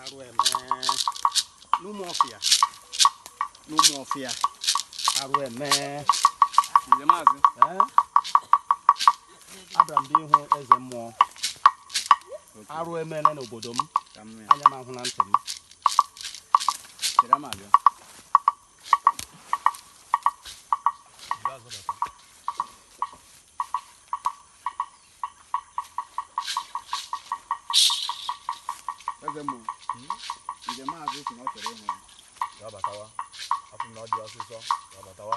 arụ eme n'Ụmụọfịa n'Ụmụọfịa arụ eme Nze maazị. Ee? abịara m bịa ịhụ eze mmụọ arụ emena n'obodo m Ka m mee. anya m ahụna ntị m Chere m abịa. eze mmụọ Nze maazị sị na ọ chọrọ ịhụ ya batawa afọ na ọ dị ọsịsọ ya batawa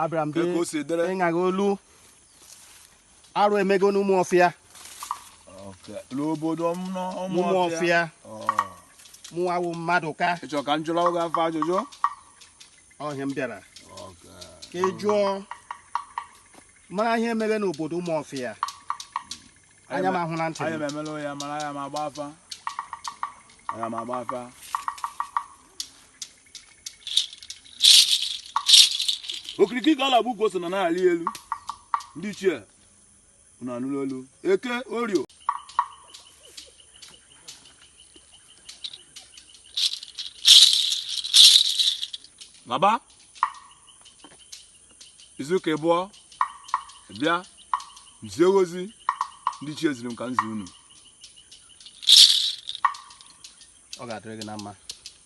abịara m bịa ịna gị olu arụ emego n'Ụmụọfịa n'obodo Ụmụọfịa mụwa wụ mmadụ ka ị chọ ka m jụọrọ gị afa ajụjụ ọ ihe m bịara ka ị jụọ mara ihe mere n'obodo Ụmụọfịa anya m ahụna ntị anya m emela ya mara ana m agba afa ana m agba afa okirikiri ka a na-agba ukwu ose na na-arị elu ndị ichie unu anụrụ olu eke orio na-agba izu ka ịbụọ bịa zie ozi ndị ichie ziri m ka m zi unu ọ ga-adịrị gị na mma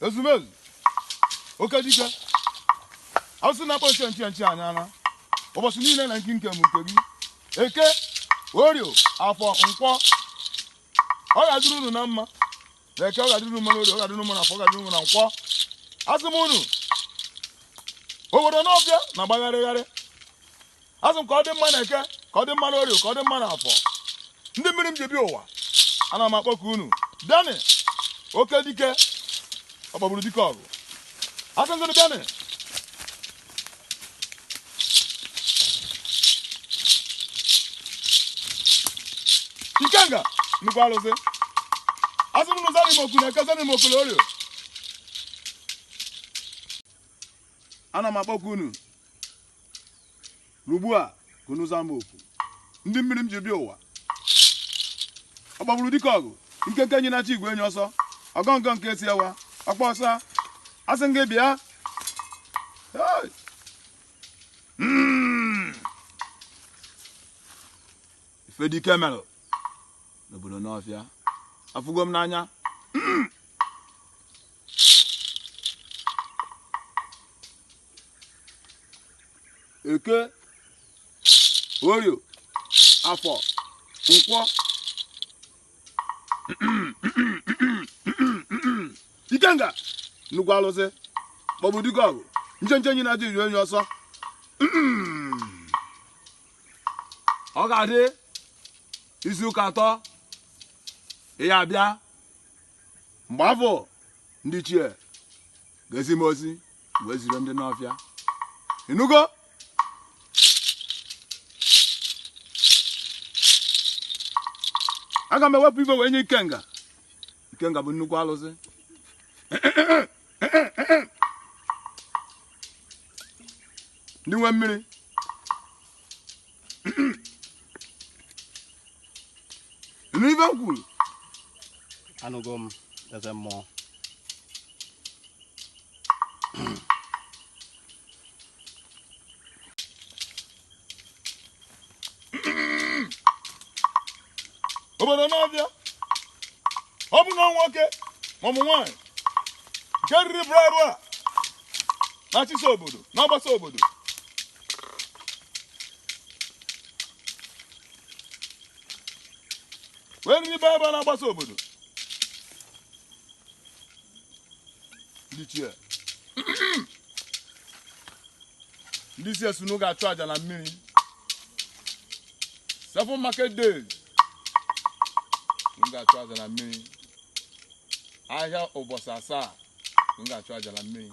ezumezu oke dike asị na-akpọ nche nche nche anya ara ụbọchị niile na nke nke m nke gị eke orio afọ nkwọ ọ ga-adịrị unu na mma na eke ọ ga-adịrị unu mma na orio ọ ga-adịrị unu mma na afọ ọ ga-adịrị unu mma na nkwọ asị m unu obodo Ụmụọfịa na-agbagharịgharị asị m ka ọ dị mma na eke ka ọ dị mma n'orio ka ọ dị mma na afọ ndị mmiri m ji bịa ụwa ana m akpọku unu bịanị oke dike ọ kpọgburu dike ọgụ asị m unu bịanị ikenga nnukwu arụsị asị m zanị m oku na eke zanị m oku na orio ana m akpọku unu ugbu a ka unu zaa m oku ndị mmiri m ji bịa ụwa ọ gbagburu dike ọgụ nkenke enyi na-achụ igwe enyi ọsọ ọgọ ngọ nke esi ewa ọkpa ọsa asị m gị bịa Hey! Mm. ife dike merụ n'obodo Ụmụọfịa afụgo m n'anya eke orie afọ nkwọ ikenga nnukwu alụsị maọbụ dike ọgụ nchenche enyi na-ajụ iri onye ọsọ ọ ga-adị izu ụka atọ ị ya abịa mgbe afụ ndị ichie ga-ezi m ozi wee zire ndị nọ ọfịa ịnụgo aga m ewepụ ife wee nye ikenga ikenga bụ nnukwu alụsị ndị nwe mmiri nụ ive m kwuru anụgo m eze mmụọ obodo n'ọbịa ọ bụ na nwoke ma ọ bụ nwaanyị nke riri bụrụ arụ a na-achịsa obodo na-agbasa obodo wee riri baba na-agbasa obodo ndị ichie ndị ichie sị unu ga-achụ aja na mmiri seven market days unu ga-achụ aja na mmiri ahịa ụbọchị asaa unu ga-achụ aja na mmiri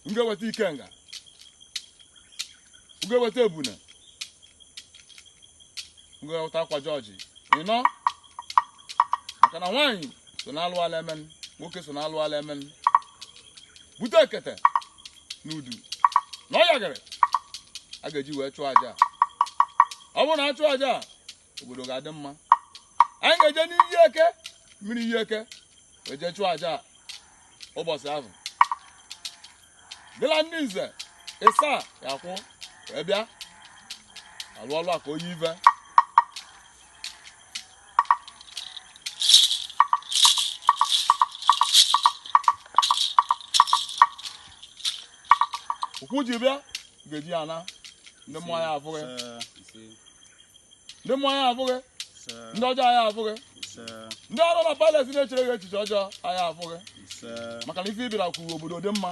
unu ga-eweta ikenga unu ga-eweta ebuna unu ga-eweta akwa jọji ịnọ maka na nwaanyị so na alụ ala emen nwoke so na alụ ala emen bute ekete na udu na ọ ya ka a ga-eji wee chụọ aja a. ọ bụrụ na a chụọ aja a obodo ga-adị mma anyị ga-eje n'iyi eke mmiri iyi eke wee je chụọ aja a ụbọchị ahụ dịla ndị nze ịsa ya kwụ wee bịa alụ ọlụ a ka onye ive ụkwụ ji bịa ga-eji ya naa ndị mmụọ aya afụ gị ndị mmụọ aya afụ gị ndị ọjọọ aya afụ gị ndị ọrụ na palace na-echere gị echiche ọjọọ aya afụ gị maka na ife ị bịara ka obodo dị mma